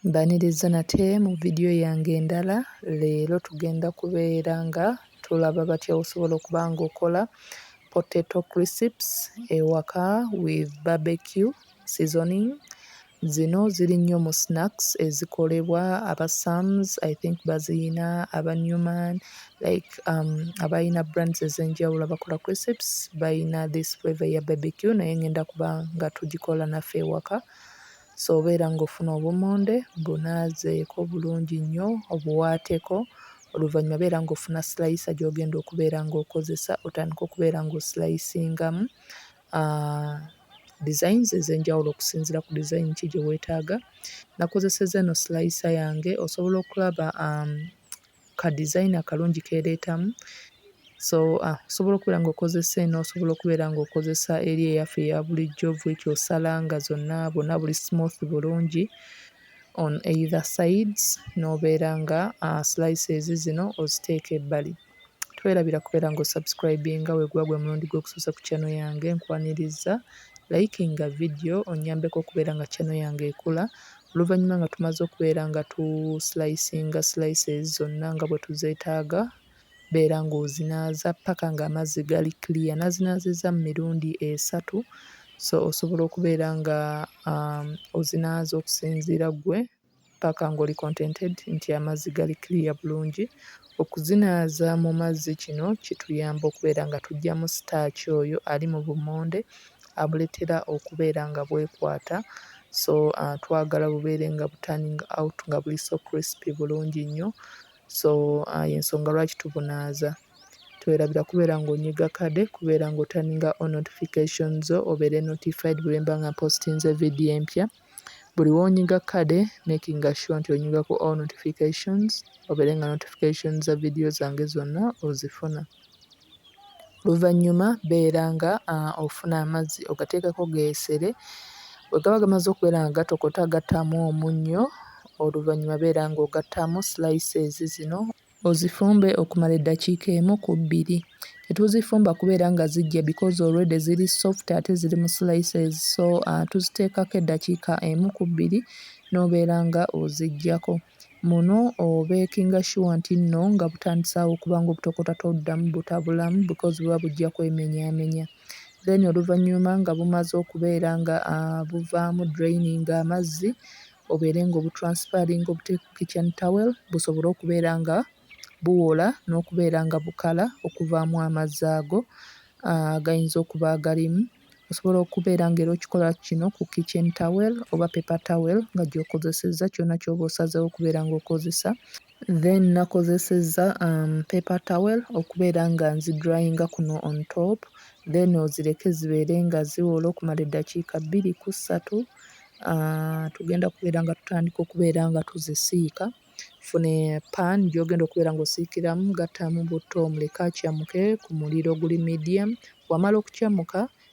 Mbaniriza nate mu video yange endala leero tugenda kubeera nga tulaba batya osobola okuba nga okola potato crisps ewaka with barbecue seasoning zino ziri nnyo mu snacks ezikolebwa aba sams i think baziyina aba newman like um, abalina brands ezenjawulo abakola crisps balina this flavor ya barbecue naye ngenda kuba nga tugikola naffe ewaka Sobeera ng'ofuna obummonde bunaazeeko bulungi nnyo obuwaateko oluvannyuma beera ng'ofuna silayisa gy'ogenda okubeera ng'okozesa otandike okubeera ng'osilayisingamu designs ez'enjawulo okusinziira ku design ki gye weetaaga. Nakozesezza eno silayisa yange osobola okulaba um, ka design akalungi kereetamu so uh, osobola okubeera ng'okozesa eno osobola okubeera ng'okozesa eri eyaffe eya bulijjo vwekyo osala nga zonna bonna buli smooth bulungi on either sides n'obeera nga uh, slices zino oziteeka ebbali twerabira kubeera ng'osubscribinga weguba gwe mulundi gw'okusosa ku channel yange nkwaniriza likinga video onyambeko okubeera nga channel yange ekula Oluvannyuma nga tumaze okubeera nga tu slicinga slices zonna nga bwe tuzeetaaga, beera ng'ozinaaza ppaka ng'amazzi gali clear. Nazinaazizza mu mirundi esatu so osobola okubeera nga um, ozinaaza okusinziira ggwe ppaka ng'oli contented nti amazzi gali clear bulungi Okuzinaaza mu mazzi kino kituyamba okubeera nga tuggyamu sitaaki oyo ali mu bummonde abuleetera okubeera nga bwekwata so twagala bubeere nga bu turning out nga buli so crispy bulungi nnyo so y'ensonga lwaki tubunaaza. Twerabira kubeera ng'onyiga kade, kubeera ng'otaninga on notification zo obeere notified bwe mba nga mpoositinze vidiyo empya. buli wonyiga kade making sure nti onyiga ku all notifications obere nga notification za video zange zona ozifuna oluvanyuma beera nga uh, ofuna amazzi ogateekako geesere wegaba gamaze okubeera nga gatokota gattamu omunnyo oluvannyuma beera ng'ogattamu slices zino Ozifumbe okumala eddakiika emu ku bbiri. Tetuzifumba kubeera nga ziggya because already ziri soft ate ziri mu slices so uh, tuziteekako eddakiika emu ku bbiri n'obeera nga oziggyako. Muno obeekinga sure nti nno nga butandisaawo okuba ng'obutokota toddamu butabulamu because buba bujja kwemenyaamenya. Then oluvannyuma nga bumaze okubeera nga uh, buvaamu draining amazzi obeere nga obutransifaringa obuteeke ku kitchen towel busobole okubeera nga buwola n'okubeera nga bukala okuvaamu amazzi ago agayinza okuba agalimu. Osobola okubeera nga era okikola kino ku kitchen towel oba paper towel nga gy'okozesezza kyonna ky'oba osazeewo okubeera ng'okozesa. Then nakozesezza um, paper towel okubeera nga nzidryinga kuno on top then ozireke zibeere nga ziwola okumala eddakiika bbiri ku ssatu uh, tugenda kubeera nga tutandika okubeera nga tuzisiika fune pan gyogenda okubeera nga osiikiramu gattamu butto omuleke akyamuke ku muliro oguli medium wamala okukyamuka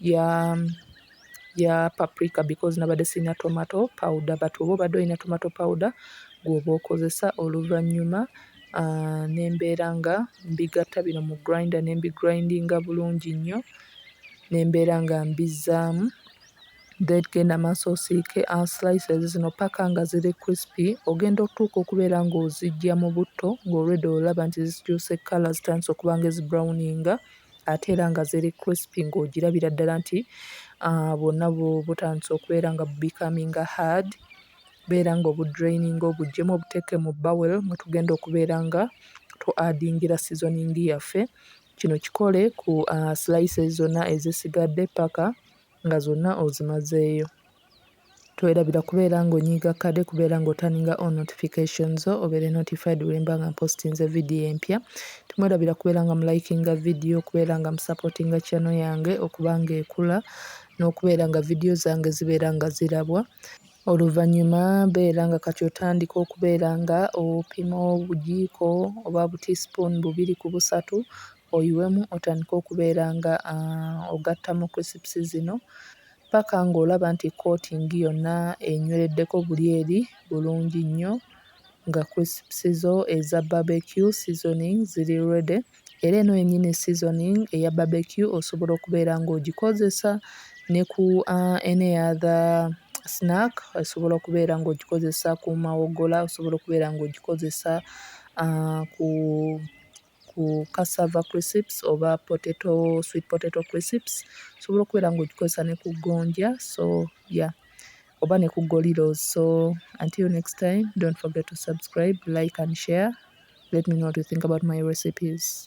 ya ya paprika because nabadde sirina tomato powder but oba obadde olina tomato powder gwoba okozesa oluvannyuma ah, ne mbeera nga mbigatta bino mu grinder ne mbigrindinga bulungi nnyo ne mbeera nga mbizzaamu then genda maaso osiike ah, slices zino paka nga ziri crispy ogenda okutuuka okubeera ng'ozijja mu butto ng'olwedde olaba nti zikyuse kkala zitandise okuba nga ezibrowninga ate era nga ziri crispy ng'ogirabira ddala nti bwonna butandise okubeera nga bu becominga hard, beera ng'obu drayininga obuggyemu obuteeke mu bowel mwe tugenda okubeera nga tuadingira sizoniingi yaffe. Kino kikole ku slices zonna ezisigadde ppaka nga zonna ozimazeeyo twerabira kubeera nga onyiiga kade kubeera nga otaninga all notification zo obeere notified wemba nga mpostinze video empya temwerabira kubeera nga mulikinga video okubeera nga musupportinga channel yange okuba nga ekula n'okubeera nga video zange zibeera nga zirabwa oluvannyuma beera nga kati otandika okubeera nga opima obujiiko oba butiispoon bubiri ku busatu oyiwemu otandike okubeera nga ogatta mu crisps zino paka ng'olaba nti coating yonna enywereddeko buli eri bulungi nnyo nga crisps zo eza barbecue seasoning ziri ready era eno yennyini seasoning eya barbecue osobola okubeera ng'ogikozesa ne ku any other snack osobola okubeera ng'ogikozesa ku mawogola osobola okubeera ng'ogikozesa ku ku cassava crisps oba potato sweet potato crisps osobola okubeera ng'ogikozesa ne ku gonja so ya oba ne ku golilo so until next time don't forget to subscribe like and share let me know what you think about my recipes.